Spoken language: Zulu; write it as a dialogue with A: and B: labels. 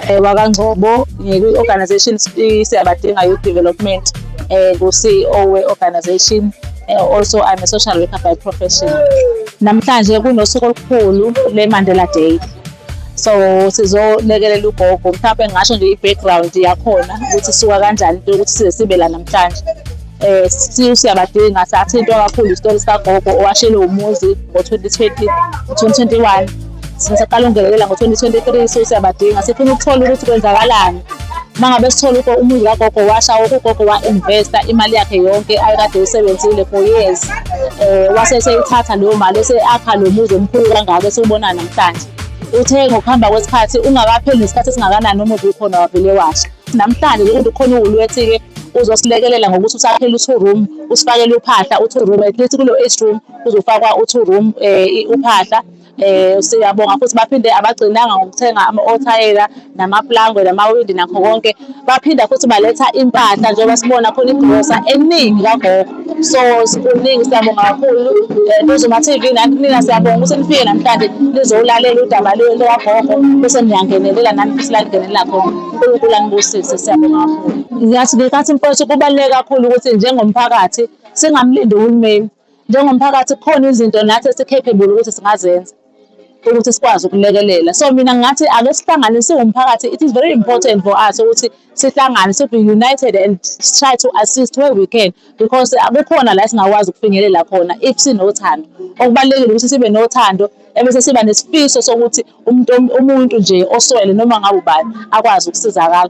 A: Eh, wakangcobo
B: ngikwi-organization siyabadinga youth development um ku-ceo we-organization eh, also i'm a social worker by profession namhlanje kunosuku olukhulu le-mandela day so sizolekelela ugogo mhlawumbe ngingasho nje i-background yakhona ukuthi suka kanjani into yokuthi size sibe la namhlanje eh still siyabadinga sathintwa kakhulu isitori sikagogo owashelwe umuzi ngo-2020 2021 sisaqala ungenelela ngo-2023 so siyabadinga sifuna ukuthola ukuthi kwenzakalani uma ngabe sithola uko umuzi kagogo washa woke ugogo wa-investa imali yakhe yonke ayekade usebenzile for years um wase seyithatha leyo mali ese-akha lo muzi omkhulu kangako esiwubona namhlanje uthe ngokuhamba kwesikhathi ungakapheli nesikhathi esingakanani umuzi ukhona wavele washa Namhlanje ke kodwa khona uwulwethi ke uzosilekelela ngokuthi usakhele u-two room usifakele uphahla u-two room at least kulo eight room kuzofakwa u-two room eh uphahla eh siyabonga futhi baphinde abagcinanga ngokuthenga ama-othayela namaplangwe namawindi nakho konke baphinda futhi baletha impahla njengoba sibona khona igrosa eningi kagogo so sikuningi siyabonga kakhulu Duzuma eh, TV nani nina siyabonga ukuthi nifike namhlanje nizowulalela udaba lwagogo bese niyangenelela nani futhi lalingenelela khona uNkulunkulu anibusise siyabonga kakhulu ngiyathi ngikathi mfowethu kubaluleke kakhulu ukuthi njengomphakathi singamlindi uhulumeni njengomphakathi kukhona izinto nathi esi-capable ukuthi singazenza ukuthi sikwazi ukulekelela so mina ngathi ake sihlangane siwumphakathi it is very important for us ukuthi sihlangane sibe united and try to assist where we can because kukhona la singakwazi ukufinyelela khona if sinothando okubalulekile ukuthi sibe nothando ebese siba nesifiso sokuthi umuntu umuntu nje oswele noma ngabe ubani akwazi ukusizakala